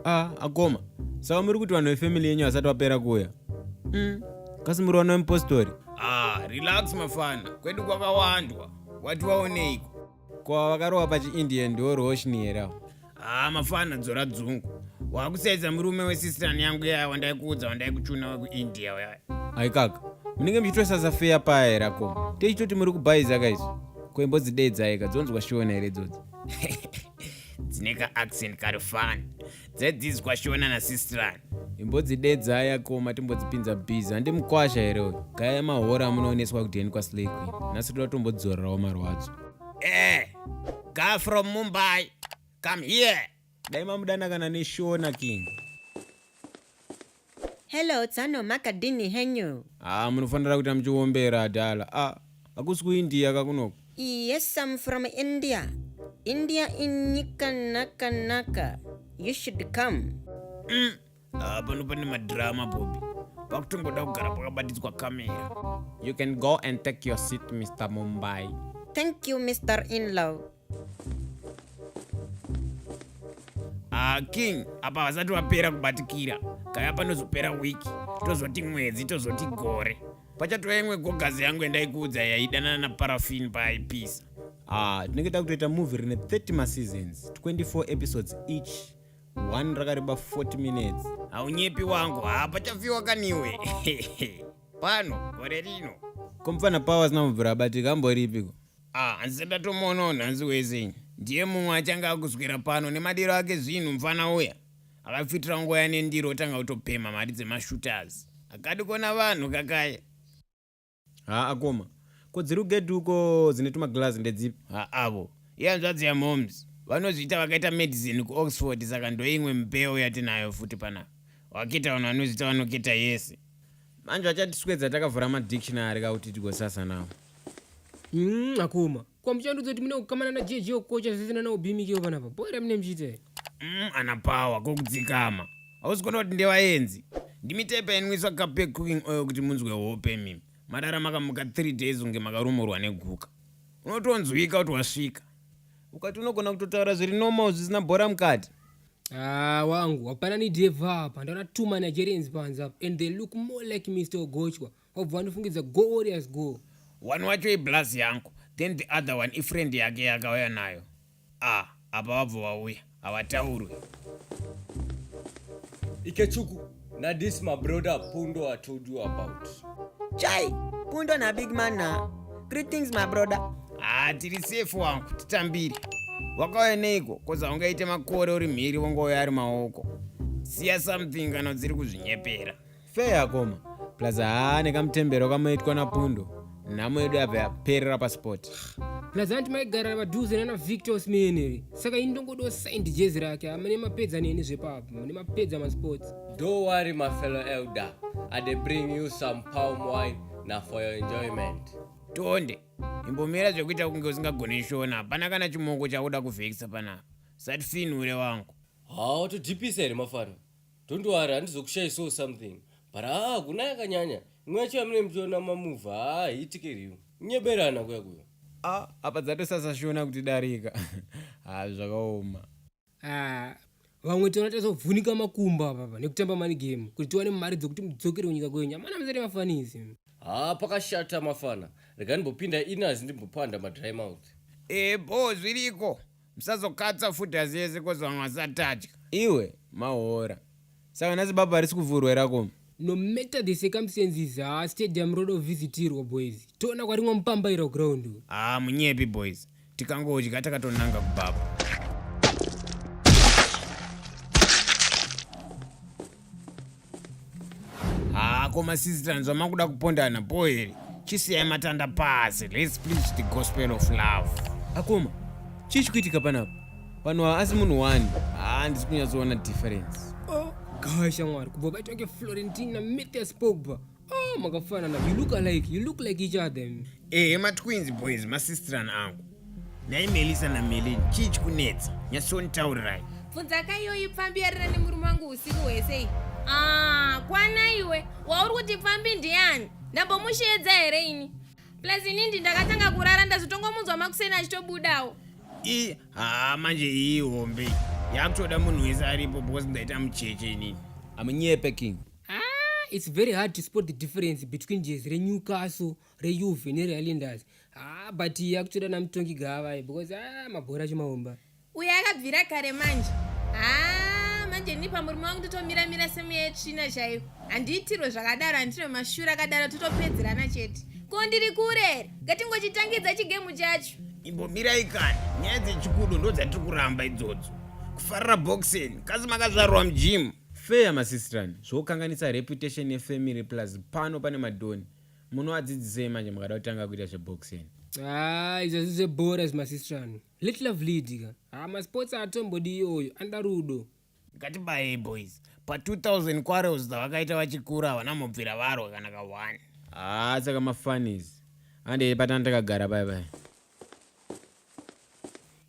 ah akoma saka muri kuti vanhu vefamily yenyu vasati vapera kuuya mm. kasi muri vana vemupostori ah relax mafana kwedu kwakawandwa wati waoneiko kwa vakarowa pachiindian ndiwo roshni here awo haa mafana dzora dzungu wakusaidza murume wesisitani yangu yaya wandaikuudza wandaikuchuna wekuindia uyaya aikaka munenge muchitosasa feya paya here akoma teichitoti muri kubhaiza ka izvo koimbo dzidedzai ka dzonzwa shona here idzodzi dzine ka accent kari fani dzaidzidzwa shona nasistirani imbodzidedzai akoma timbodzipinza bhizi handi mukwasha here uyu gaya mahora amunooneswa kudheni kwasleyqui nhasi toda tombodzorerawo marwadzo ee Guy from Mumbai, come here. Dai mamudana kana neshona king. Hello, tsano makadini henyu. Ah, munofanira kuita muchiombera adala. Ah, hakusi kuIndia kakunoko. Yes, I'm from India. India inyika naka naka. You should come. Mm. Ah, pano pane madrama bobi pakutongoda kugara pakabatidzwa kamera you can go and take your seat mr mumbai thank you mr inlaw ah, king apa vasati vapera kubatikira kaya panozopera wiki tozoti mwedzi tozoti gore pachatova imwe gogazi yangu yandaikuudza yaidanana naparafin paaipisa ah, tinenge takutoita movie rine 30 maseasons 24 episodes each one rakareba 40 minutes haunyepi wangu hapa chafiwa kaniwe pano gore rino komfana pawa asina mubvura abatika amboripiko ah hanzi ndatomuonawo nhanzi wese ndiye mumwe achange akuswera pano nemadiro ake zvinhu mfana uya akafitira nguva yanendiro otanga kutopemha mari dzemashooters akadi kuona vanhu kakaya haa akoma ko dziri kugedhi uko dzine tumaglazi ndedzipi haavo ihanzvadzi yamoms vanozviita vakaita medicine kuoxford saka ndoimwe mbeu yatinayo futi pana waketa vanhu vanozviita vanoketa yese manje vachatiswedza takavhura madictionary ka kuti tigosasa nawo mm, akoma Kwa muchandudzo kuti mune kukamana na JJ okocha zvisina na ubimikeo panapa. Boy ramine mchita here? Mm, ana power ko kudzikama. Hausi kuona kuti ndevaenzi. Ndimi type yainwiswa cup pe cooking oil kuti munzwe hope mimi. Madara makamuka 3 days unge makarumurwa neguka. Unotonzwika kuti wasvika. Ukati unogona kutotaura zviri normal zvisina bhora mukati. Ah, wangu hapana ni deva apa. Ndaona two Nigerians panze apa and they look more like Mr. Ogochwa. wabva wandifungidza go warriors go one wacho iblaz yangu then the other one ifriend yake yakauya nayo a ah, apa vabva vauya havataurwe ikechuku na this my brother pundo i told you about chai pundo na big man na greetings my brother ah tiri safe wangu titambire wakauya neiko koza ungaite makore uri mhiri wongouya ari maoko siya something kana dziri kuzvinyepera Fair akoma. Plus haa nekamutembero kamoitwa napundo. Nhamo yedu yabva yaperera pasport. Plus anti maigara padhuze nana Victor Smeneri. Saka ini ndongodo signed jezi rake. Amene mapedza neni zvepapo. Mune mapedza masports. Don't worry my fellow elder. I dey bring you some palm wine na for your enjoyment. Tonde. Imbomira zvekuita kunge usingagone shona. Hapana kana chimoko chakuda kuvhekisa panapa. Usatifinhure wangu. Haa watodhipisa here mafana? Don't worry handizokushaisawo something but haa ah, kuna yakanyanya imwe yacho yamune muchiona mamuva haa ah, hiitike riyo nyeberana kuya kuyo a ah, apa dzatosasashona kuti darika haa zvakaoma vamwe tiona tazovhunika makumbo apapa nekutamba mani game kuti tiwane mari dzokuti mudzokere kunyika kwenyu amana musati mafanisi haa pakashata mafana rega ndimbopinda inazi ndimbopanda madry mouth ebo zviriko Musazokatsa futi asi yese kozi vamwe vasatadya. Iwe mahora. Saka nhasi baba harisi kuvhurwa here akoma? No matter the circumstances haa stadium roda kuvhisitirwa boys. Toona kwarimwa mupambaira kuground uku. Haa munyepi boys. Tikangodya takatonanga kubaba. haa koma sisi tanzwa makuda kupondana bho here chisiyai matanda pasi let's preach the gospel of love akoma chii chikuitika panapa vanhu ava asi munhu wani haa ndisi kunyatsoona difference oh gosh amwari kubva baitwa ngeflorentina metes pogba Ah, makafanana. You look alike. You look like each other. Eh, ma twins boys, ma sister angu. Nai Melissa na Melin, chii chikunetsa? Nyasonitaurirai. Bvunza ka iyoyi pfambi yarira nemurume wangu usiku hwese. Ah, kwana iwe. Wauri kuti pfambi ndiani? Ndambomusheedza here ini? Plus ini ndi ndakatanga kurara ndazotongomunzwa makuseni achitobudawo. I, ha manje iyi hombe. Yakutoda munhu wese aripo because ndaita mucheche ini. Amunyepe king. Ah, it's very hard to spot the difference between jezi renewcastle reuve nerealinders ah, but akutoda namutongi gavai because ah, mabhora achimaomba uyo akabvira kare manje ah, manje ini pamurume wangu totomira mira semuya yetsvina chaiyo handiitirwe zvakadaro handine mashura akadaro totopedzerana chete ko ndiri kurere ngatingochitangidza chigemu chacho imbomirai kani nyaya dzechikudo ndodzatiri kuramba idzodzo kufarira boxing kasi makazvarwa mujimu Fair masistrani zvokanganisa reputation ye family plus pano pane madhoni munoadzidzisei manje mukada kutanga kuita zveboxing. Haa izvi hazvisi zvebhora izvi masistrani. Let love lead ka. Haa masports haatombodi iyoyo anoda rudo. Ngatibayei boys. Pa 2000 quarrels dzavakaita vachikura havana mubvira varwa kana ka one. Haa saka mafunnies. Handei patanga takagara paya paya.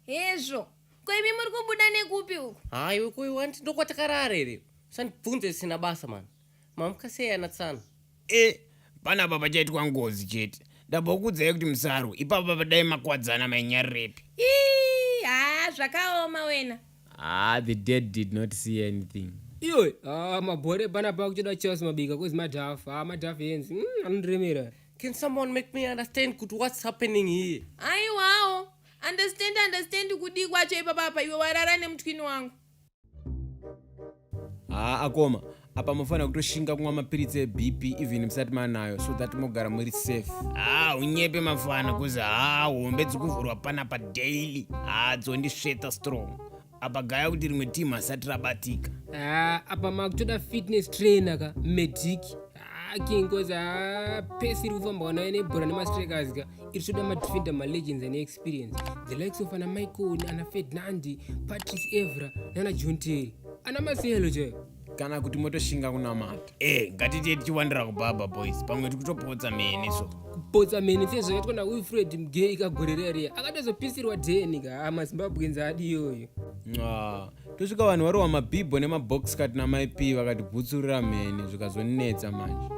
hezvo ko imi muri kubuda nekupi uku hayi wekuyi wanti ndokwatakarara here usandibvunze zvisina basa mani mamuka sei ana tsano e pana baba chaitwa ngozi chete ndambokuudzai kuti musarwe ipapo baba dai makwadzana mainyarirepi ii haa zvakaoma wena ah the dead did not see anything iwe ah, mabhore pana pa kutoda chelsea mabika kozi madhafu ah, madhafu yenzi mm, anondiremera mm, Can someone make me understand kuti what's happening here? Aiwawo, understand understand kudii kwacho ipapa apa iwe warara nemutwini wangu. Haa akoma, apa mofanira kutoshinga kumwa mapiritsi ebp even musati manayo so that mogara muri safe haa unyepe mafana kuzi haa hombe dzikuvhurwa panapa daily haa dzondisveta strong apa gaya kuti rimwe team hasati rabatika ah, apa makutoda fitness trainer ka medic ah, king cause ah, pesi iri kufamba wanayo nebhora nemastrikers ka iri toda madefender malegends ane experience the likes of ana michael ana fednandi patrice evra nana john terry ana maselo chaivo kana kuti motoshinga kunamata e ngatitiye tichiwandira kubaba boys pamwe tikutopotsa mene so kupotsa mene fe zvakaitwa naufred mgei kagorereria akatozopisirwa deni ka ah, mazimbabwenzi adi iyoyo ah, tosvika vanhu varohwa mabhibho nemabox kat namaip vakatibvutsurira mheni zvikazonetsa manje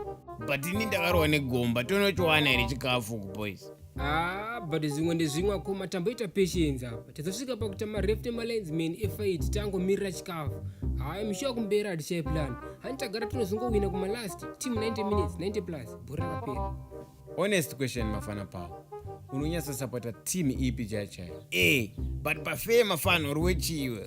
but ini ndakarohwa negomba tonochiwana here chikafu kuboys Ah, but zvimwe ndezvimwe akoma tamboita patience apa tazosvika pakuta mareft emalines man efight tangomirira chikafu hayi mushuwa kumberi hatichai plan hani tagara tinozongowina kumalast team 90 minutes 90 plus bhora rapera honest question mafana pawo unonyatsosapota team ipi chai chai e but pafee mafana uri wechiwe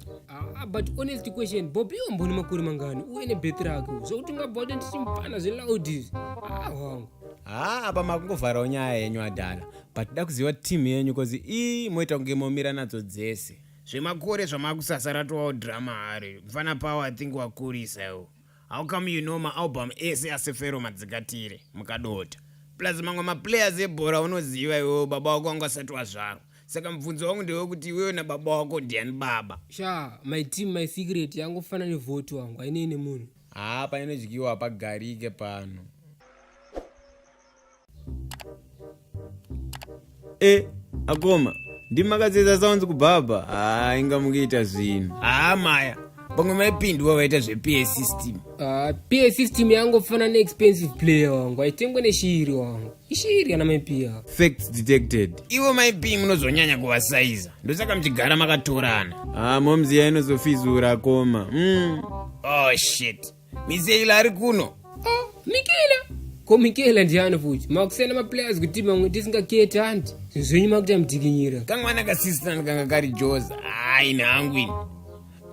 Ah, but honest question bobi wamboni makore mangani uye nebeth rake zvokuti ungabva kuti ndichimpana zveloud izvi ah wangu haa apa makungovharawo nyaya yenyu adhala but da kuziva team yenyu bcause ii moita kunge momira nadzo dzese zvemakore zvamakusasa ratovawo drama hari mfana pawo i think wakurisa iwo how come you know maalbum ese asefero madzikatire mukadota plus mamwe maplayers ebhora unoziva iwewo baba wako wanga asati wazvarwa saka mubvunzo wangu ndewekuti iwewe nababa wako ndiani baba sha my team my secret yangofana nevhoti wangu ainei nemunhu Haa painodyiwa hapagarike pano. E, akoma, ndimakadzidza sounds kubaba. Haa inga mukuita zvinhu. Haa maya, pamwe maipindwa vaita zvePA system. Uh, ah, PA system yangofana neexpensive player wangu, haitengwe neshiri wangu. ishiri kana maipiya facts detected ivo maipi munozonyanya kuvasaiza ndosaka muchigara makatorana ah momzi ya inozofizura koma mm. oh shit miseila ari kuno oh, mikela ko mikela ndiani futi makusiyana maplayers kuti mamwe tisingaketi hanti zvinhu zvenyu makuti amutikinyira kamwana kasistan kanga kari joza hayi nhangu ini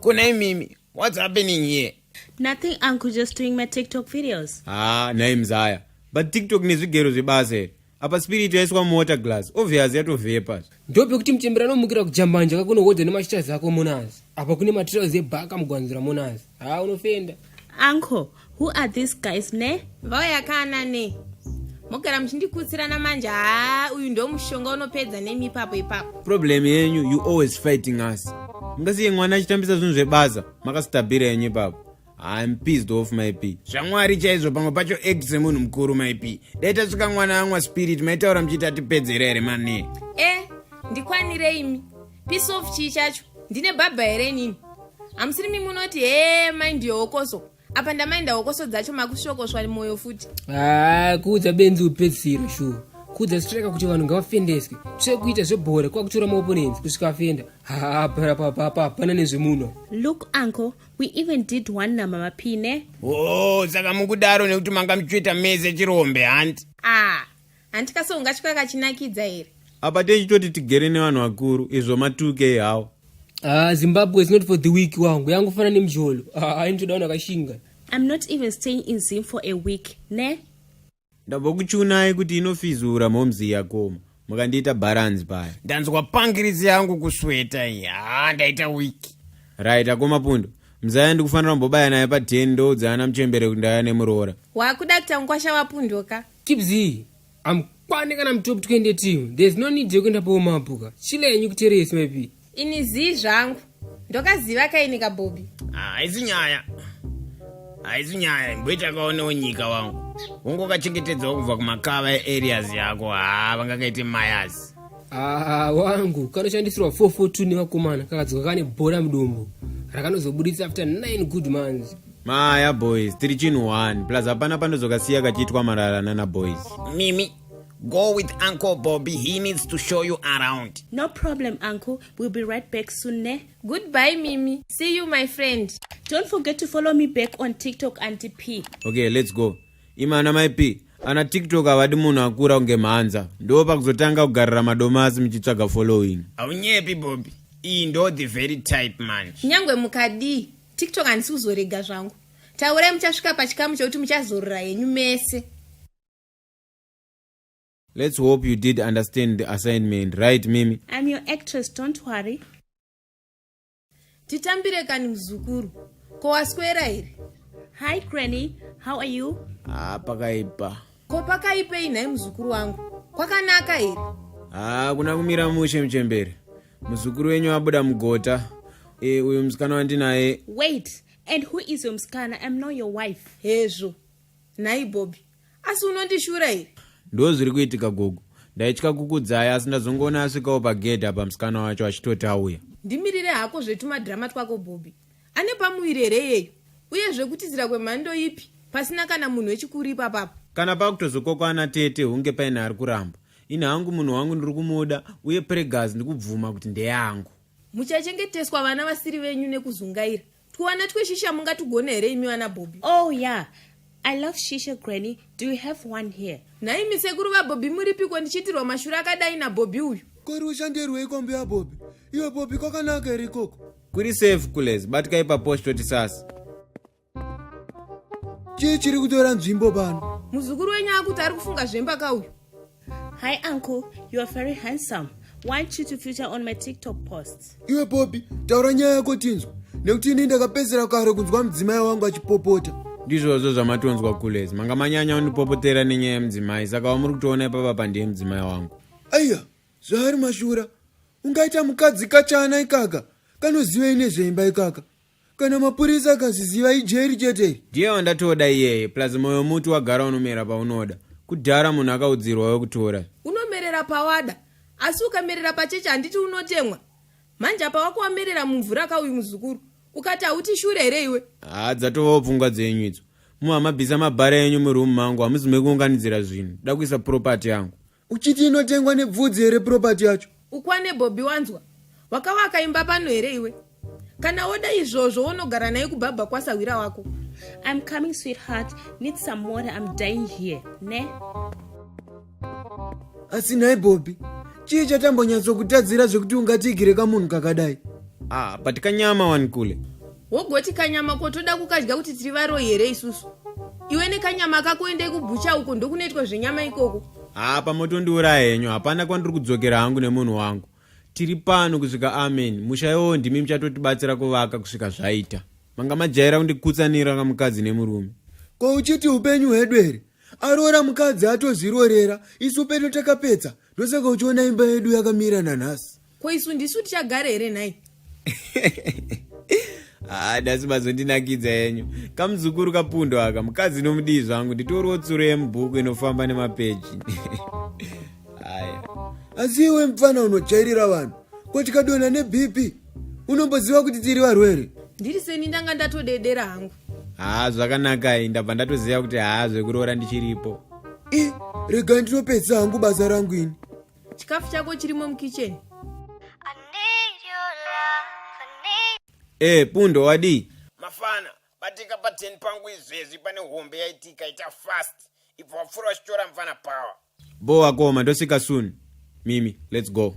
kuna imimi what's happening here Nothing uncle just doing my TikTok videos. Ah, naye mzaya. But TikTok nezvigero zvebasa here. Apa spirit yaiswa muwater glass. Obvious yatovhepa. Ndope kuti mchembera anomukira kujambanja kako unohodha nemashiters ako monazi. Apa kune materials ebhaka mugwanzira monazi. Ah, unofenda. Uncle, who are these guys ne? Vauya kana ne. Mogara muchindikutsirana manje. Ah, uyu ndo mushonga unopedza nemi ipapo ipapo. Problem yenyu you always fighting us. Mungasiye mwana achitambisa zvinhu zvebasa. makasitabhira yenyu ipapo I'm pissed off myp zvamwari chaizvo pamwe pacho act semunhu mukuru myp dai tasvika mwana amwa spirit maitaura muchiita tipedzera here mane e eh, ndikwanire imi piece of chii chacho ndine bhabha here inini hamusiri mi munoti hee mai ndiyo hokoso apa ndamainda hokoso dzacho makusvokoswa mwoyo futi haa ah, kuudza benzi upedzisiro shuwa kuudza strika kuti vanhu ngavafendeswe tsvekuita zvebhora kwakutora maoponenzi kusvika afenda haa parapapapa hapana nezvemunhu look uncle we even did one namama pine o oh, saka mukudaro nekuti manga muchitoita mese chirombe hanti ah hanti kase ungatya kachinakidza here apa techitoti tigere nevanhu vakuru izvo matuke ihawo ah zimbabwe is not for the week wangu yangofana nemjolo ah, ainitoda vanhu vakashinga i'm not even staying in zim for a week ne ndabva kuchiunai kuti inofizura momzi yakoma mukandiita bharanzi paya ndanzwa pangiridzi yangu kusweta iyi haa ndaita wiki right akoma pundo mzaya ndikufanira kumbobaya naye pa 10 ndoudza ana muchembere kuti ndaya nemuroora wakuda kuita mukwasha wapundoka kibzi amkwane kana mutop twende team there's no need yekuenda paomapuka chile yenyu kuteresi maipi ini zii zvangu ndokaziva kaini kabhobi ah, haisi nyaya haisi nyaya imboita kaonewo nyika wangu ungokachengetedzawo kubva kumakava eareas yako haa ah, vangakaite mayas aa ah, wangu kanoshandisirwa 442 nevakomana kakadzoka kane bhora mudumbu rakanozobuditsa after 9 good months maya boys tiri chinhu 1 plus hapana panozokasiya kachiitwa marara nana boys mimi Go with Uncle Bobby. He needs to show you around. No problem, Uncle. We'll be right back soon, ne? Goodbye, Mimi. See you, my friend. Don't forget to follow me back on TikTok, Auntie P. Okay, let's go. Imana, my P. ana tiktok havadi munhu akura kunge mhanza ndo pakuzotanga kugarira madomasi muchitsvaga following haunyepi bobi iyi ndo the very type man kunyange mukadii tiktok handisi kuzorega zvangu taurai muchasvika pachikamu chekuti muchazorora henyu mese Let's hope you did understand the assignment, right, Mimi? I'm your actress, don't worry. Titambire kani mzukuru. Ko waswera here? Hi, Granny. How are you? Ah, pakaipa. Ko pakaipei nhai mzukuru wangu? Kwakanaka here? Ah, kuna kumira mushe mchembere. Mzukuru wenyu abuda mugota. Eh, uyu msikana wandinaye. Wait, and who is your msikana? I'm not your wife. Hezvo. Nhai Bobby. asi unondishura here ndo zviri kuitika gogo ndaitya kukudzaya asi ndazongoona asvikawo pagedhi apa musikana wacho achitoti auya ndimirire hako zvetumadhirama twako bhobhi ane pamuviri here iyeyu uye zvekutizira kwemhando ipi pasina kana munhu wechikuru ipapapo kana pakutozokokwana tete hunge paine ari kuramba ini hangu munhu wangu ndiri kumuda uye pregas ndikubvuma kuti ndeyangu muchachengeteswa vana vasiri venyu nekuzungaira Twana tweshisha mungatugone here imi vana Bobby? Oh yeah. I love shisha granny. Do you have one here? Nhai mi sekuru va Bobby muripiko ndichiitirwa mashura akadai na Bobby uyu? Kori ushandirwei kombi ya Bobby? Iwe Bobby kwakanaka here ikoko? Kuri safe kulez, batikai pa post toti sasa. Chii chiri kutora nzvimbo pano? Muzukuru wenyu akuti ari kufunga zvemba ka uyu? Hi uncle, you are very handsome. Why should you feature on my TikTok posts? Iwe Poppy, taura nyaya yako tinzwa. Nekuti ini ndakapedzera kare kunzwa mudzimai wangu achipopota. Ndizvozvo zvamatonzwa kulezi. Manga manyanya unipopotera nenyaya yemudzimai, saka wamuri kutoona ipapa pandiye mudzimai wangu. Aiya, zvaari mashura. Ungaita mukadzi kachana ikaka. Kanozivei nezveimba ikaka. kana mapurisa akaziziva ijeri chete iri ndiye wandatoda iyeye plus moyo muti wagara unomera paunoda kudhara munhu akaudzirwa wekutora unomerera pawada asi ukamerera pacheche handiti unotemwa manje apa wako wamerera mumvura ka uyu muzukuru ukati hauti shure here iwe haa dzatovawo pfungwa dzenyu idzo muhamabvisa mabhara enyu muroom mangu hamuzi mekuunganidzira zvinhu da kuisa property yangu uchiti inotengwa nebvudzi here property yacho ukwane bobby wanzwa wakavaka imba pano here iwe kana woda izvozvo wonogara naye kubhabha kwasahwira wako i'm coming sweetheart need some water i'm dying here ne asi nhai bobby chii chatambonyatsokutadzira zvekuti ungatiigire kamunhu kakadai ah but kanyama wani kule wogoti kanyama ko toda kukadya kuti tiri varoyi here isusu iwe nekanyama kako endei kubhucha uko ndokunoitwa zvenyama ikoko haa pamotondiuraya henyu hapana kwandiri kudzokera hangu nemunhu wangu tiri pano kusvika amen musha iwowo ndimi muchatotibatsira kuvaka kusvika zvaita manga majaira kundikutsanira kamukadzi nemurume ko uchiti upenyu hwedu here aroora mukadzi atozvirorera isu pedu takapedza ndosaka uchiona imba yedu yakamira nanhasi ko isu ndisu tichagare here nhai haa ah, dasi bazondinakidza yenyu kamuzukuru kapundo aka mukadzi nomudii zvangu nditoriwo tsuro yemubhuku inofamba nemapeji aya asi iwe mupfana unojairira vanhu ko tikadonha nebp unomboziva kuti tiri varwere ndiri seni ndanga ndatodedera hangu haa ah, zvakanakai ndabva ndatoziva kuti haa ah, zvekuroora ndichiripo i rega ndinopedzisa hangu basa rangu ini chikafu chako chirimo mukitchen Eh, pundo wadii mafana batika pa 10 pangu izvezvi pane hombe yaitika ita fast ibva wapfuura uchitora mfana power bho wakoma ndosvika soon mimi let's go